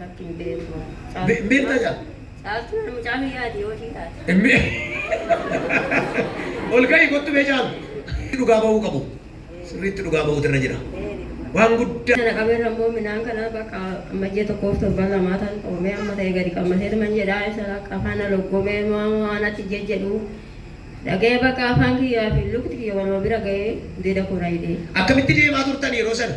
Lakki hin beeku. Be- beektaa caaltu? Caaltuu na mucaa biyyaati yoo ishii taate. Immi. Ol ka'i kottu mee caalu. Dhugaa ba'uu qabu. Sirriitti dhugaa ba'uutu irra jira. Waan guddaa. Kana qabeen ammoo midhaan kana bakka amma ji'a tokkoof torban lamaa tan qoomee amma ta'e gadi qammasee tuman jedhaa isa akka afaan na loggomee maamoo anatti jejjedhu dhaga'ee bakka afaan kiyyaa fi lukti kiyya waluma bira ga'ee gudeeda koo na hidhee. Akkamitti deemaa turtan yeroo sana?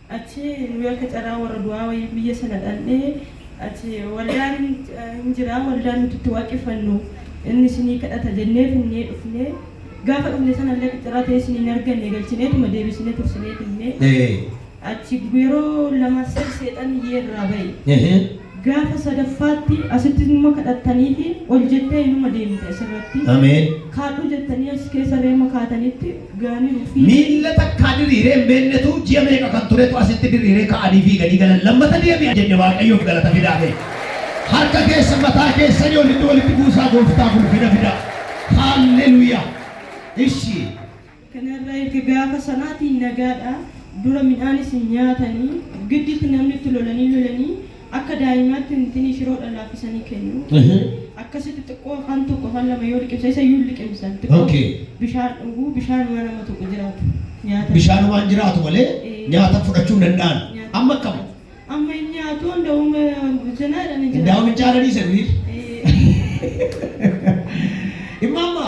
Achi nuyi akka carraa warra du'aa wayii guyya sana dhandhee achi waldaan hin jiraa waldaan nuti itti waaqeffannu inni isinii kadhata jennee finnee dhufnee gaafa dhufne sana illee akka carraa ta'ee isinii hin arganne galchineetuma deebisine tursinee finnee achi yeroo lama sadi seexanni iyyee irraa ba'e. Gaafa sadaffaatti asitti numa kadhattaniifi ol jettee inuma deemte asirratti. Ameen. Kaadhu jettanii achi keessa reema kaatanitti gaaniiru fiiga. Miilla takkaa diriiree hin beennetu ji'a meeqa kan turetu asitti diriiree ka'anii fiiganii galan lammata deebi'a jenne waaqayyoof galata fidaa mee. Harka keessa mataa keessanii olitti walitti buusaa gooftaaf ulfina fidaa. Haalleluuyaa. Ishii. Kana irraa erga gaafa sanaatii nagaadha, dura midhaan isin nyaatani, gidditti namni itti lolanii lolanii akka daa'imaatti ntinii shiroodha laaffisanii kennu. Akkasitti xiqqoo afaan tokko afaan lama yoo liqimsan isa iyyuu hin liqimsan xiqqoo bishaan dhuguu, bishaanumaa nama tokko jiraatu nyaatan. Bishaanumaan jiraatu malee nyaata fudhachuu hin danda'an. Amma akkam? Amma hin nyaatu hundaa'uum zinaa jedhanii jiraatu. Hundaa'uum hin caalanii isa durii. Immaamma.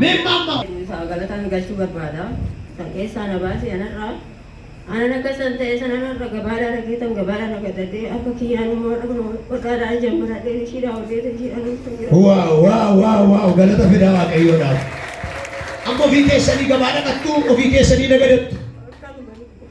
Mee maamma. Haa galataan galchuu barbaada. Kan keessaa na baase anarraa. Anan akka san ta'e san anarra gabaadhaan argitan gabaadhaan argatadhee akka kiyyaan immoo dhaqnu waqaadhaan jammaradhee ishiidhaa hojjeetu ishiidhaan hojjetu jira. Waa waa waa waa galata fidaa waaqayyoodhaaf. Amma ofii keessanii gabaa dhaqattu ofii keessanii nagadattu.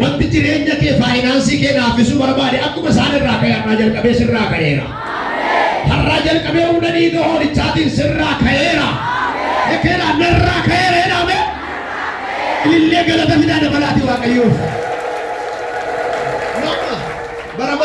Wanti jireenya kee, faayinaansii kee laaffisuu barbaade akkuma isaan irraa ka'e har'aa jalqabee sirraa ka'eera. Har'aa jalqabee humna dhiiga hoolichaatiin sirraa ka'eera. Ekeedhaa narraa ka'eera jedhaa mee. Ilillee galata fidaa dabalaatii waaqayyoof. Mama, bara bara